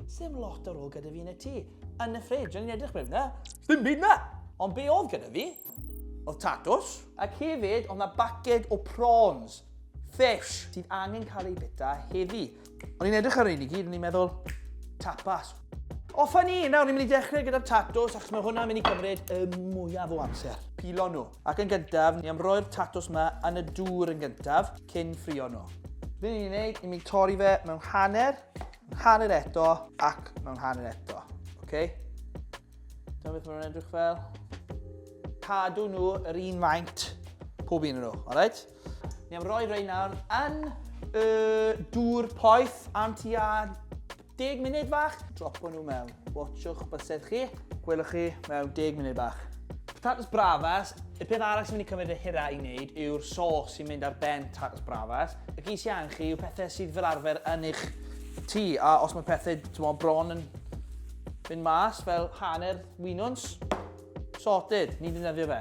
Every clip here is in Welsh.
Sdim lot ar ôl gyda fi yn y tŷ. Yn y ffridge, o'n i'n edrych mewn na. Sdim byd na! Ond be oedd gyda fi? Oedd tatws. Ac hefyd, oedd na baced o prawns. Fish. Sydd angen cael ei bita heddi. O'n i'n edrych ar ein i gyd, o'n i'n meddwl, tapas. O, ffynnu, nawr ni'n mynd i dechrau gyda'r tatws, achos mae hwnna'n mynd i gymryd y mwyaf o amser. Pilo nhw. Ac yn gyntaf, ni am roi'r tatws yma yn y dŵr yn gyntaf, cyn ffrio nhw. Fe ni'n ei wneud, ni'n mynd i torri fe mewn hanner, Hanner eto ac mewn hanner eto. Ok? Dyma beth mae'n edrych fel. Cadw nhw yr un faint pob un nhw, alright? Ni am roi rei nawr yn y dŵr poeth am tua 10 munud fach. Dropo nhw mewn. Watsiwch bysedd chi. Gwelwch chi mewn 10 munud bach. Patatas bravas, y peth arall sy'n mynd i cymryd y hira i wneud yw'r sos sy'n mynd ar ben patatas bravas. Y gys i angen chi yw pethau sydd fel arfer yn eich tŷ, a os mae pethau tymo, bron yn mynd mas fel hanner winwns, sorted, ni'n defnyddio fe.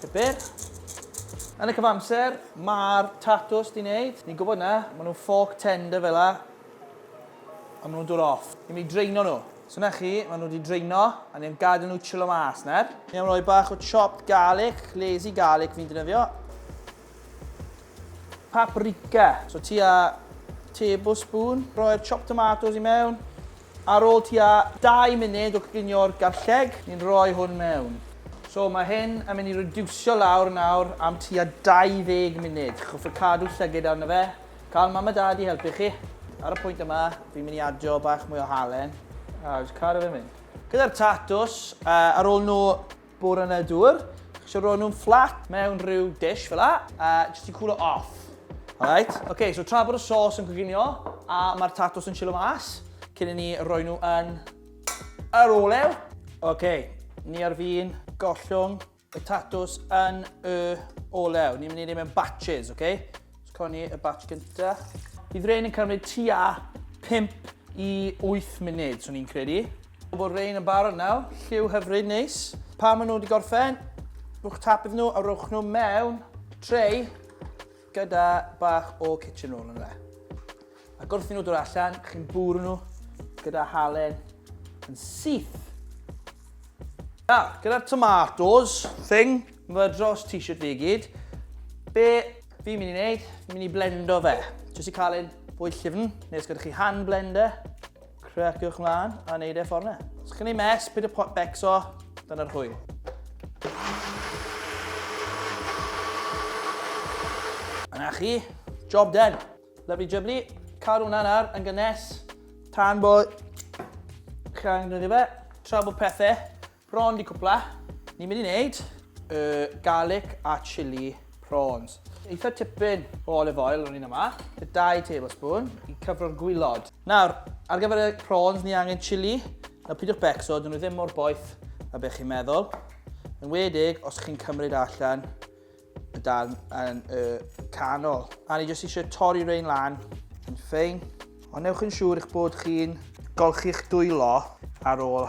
Pupur. Yn y cyfamser, mae'r tatws di wneud, ni'n gwybod na, maen nhw'n fork tender fel la, a maen nhw'n dod off. Ni'n mynd i draino nhw. So na chi, maen nhw wedi draino, a ni'n gadael nhw chilo mas, ner? Ni am roi bach o chopped garlic, lazy garlic fi'n defnyddio. Paprika. So tua tablespoon. Rhoi'r chopped tomatoes i mewn. Ar ôl tua 2 munud o coginio'r garlleg, ni'n rhoi hwn mewn. So mae hyn yn mynd i rediwsio lawr nawr am tua 20 munud. Hoffwn cadw llygid arno fe. Cael mam a dad i helpu chi. Ar y pwynt yma, fi'n mynd i adio bach mwy o halen a jyst cadw fe'n mynd. Gyda'r tatws, ar ôl nhw Bore yna dŵr, so ro'n nhw'n fflat mewn rhyw dish fel la, a jyst i cwlo off. Alright, oce, okay, so tra bod y sos yn coginio, a mae'r tatos yn chilo mas, cyn i ni roi nhw yn yr olew. Oce, okay, ni ar fi'n gollwng y tatws yn y olew. Ni'n mynd i ddim yn batches, oce? Okay? So, coni y batch gynta. Bydd rhain yn cymryd tua 5 i 8 munud, swn i'n credu. Pobl Rhein yn barod nawr, lliw hyfryd neis. Pan maen nhw wedi gorffen, rhwch tap iddyn nhw a rhwch nhw mewn trei gyda bach o kitchen roll yn dde. A gwrth i nhw dod allan, chi'n bwrw nhw gyda halen yn syth. Nawr, ah, gyda'r tomatoes thing, mae dros t-shirt fi i gyd, be fi'n mynd i wneud, fi'n mynd i blendo fe. Jyst i cael ein bwyd llyfn, nes gyda chi hand blender, Creciwch mlaen a neud e ffordd na. Os chi'n ei mes, pyd y pot becso, dyna'r hwyl. Yna chi, job done. Lovely jubbly, cadw hwnna'n ar yn gynnes. Tan bod chi'n gwneud fe, tra bod pethau Prawn di cwpla. Ni'n mynd i wneud y garlic a chili prawns. Eitha tipyn o olive oil rwy'n yma, y 2 tablespoon i cyfro'r gwylod. Nawr, ar gyfer y prawns ni angen chili. Nawr pidwch becso, dyn nhw ddim mor boeth a beth chi'n meddwl. Yn wedig os chi'n cymryd allan y darn yn y canol. A ni jyst eisiau torri rein lan yn ffein. Ond newch yn siŵr eich bod chi'n golchi'ch dwylo ar ôl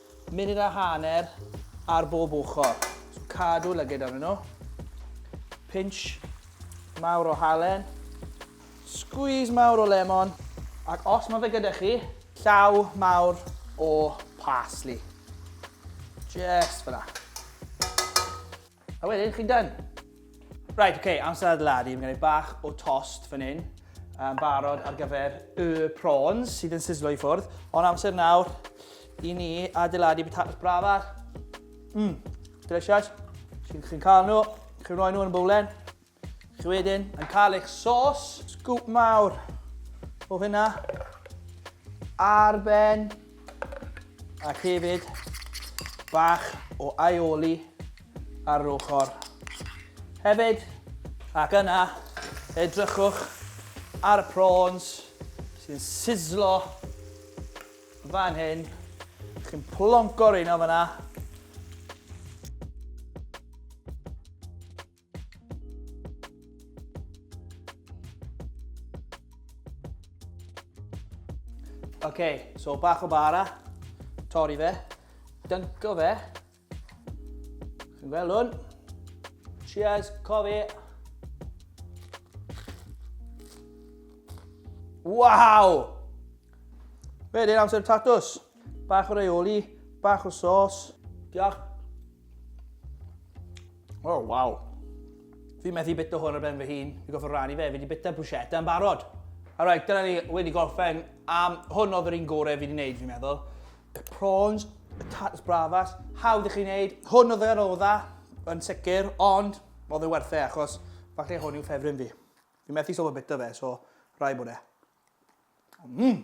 Munud a hanner ar bob ochr. So cadw lygid arnyn nhw. Pinch mawr o halen. Squeeze mawr o lemon. Ac os mae fe gyda chi, llaw mawr o parsley. Just fyna. A wedyn, chi'n done. Right, oce, okay, amser adeiladu. Mae'n gwneud bach o tost fan hyn. Um, barod ar gyfer y prawns sydd yn sizzlo i ffwrdd. Ond amser nawr i ni adeiladu potatoes brafar. Mmm, delicious. Chi'n chi cael nhw, chi'n rhoi nhw yn y bowlen. Chi wedyn yn cael eich sos. Sgwp mawr o hynna ar ben ac hefyd bach o aioli ar yr ochr hefyd. Ac yna, edrychwch ar y prawns sy'n sizzlo fan hyn. Chi'n plonco rheina fanna. Ok, so bach o bara, torri fe, dynco fe. Chi'n gweld hwn? Cheers, cofi. Wow! Fe, dyn amser tatws. Bach o raioli, bach o sos. Diolch. Oh, waw. Fi methu bita hwn ar ben fy hun. Fi goffa rannu fe, fi wedi bita bruschetta yn barod. Alright, dyna ni wedi gorffen am hwn oedd yr un gorau fi wedi gwneud fi'n meddwl. Y prawns, y tatas bravas, hawdd i chi wneud. Hwn oedd yr oedda yn sicr, ond oedd yn werthau e, achos falle hwn yw ffefryn fi. Fi methu sofa bita fe, so rai bod e. Mmm!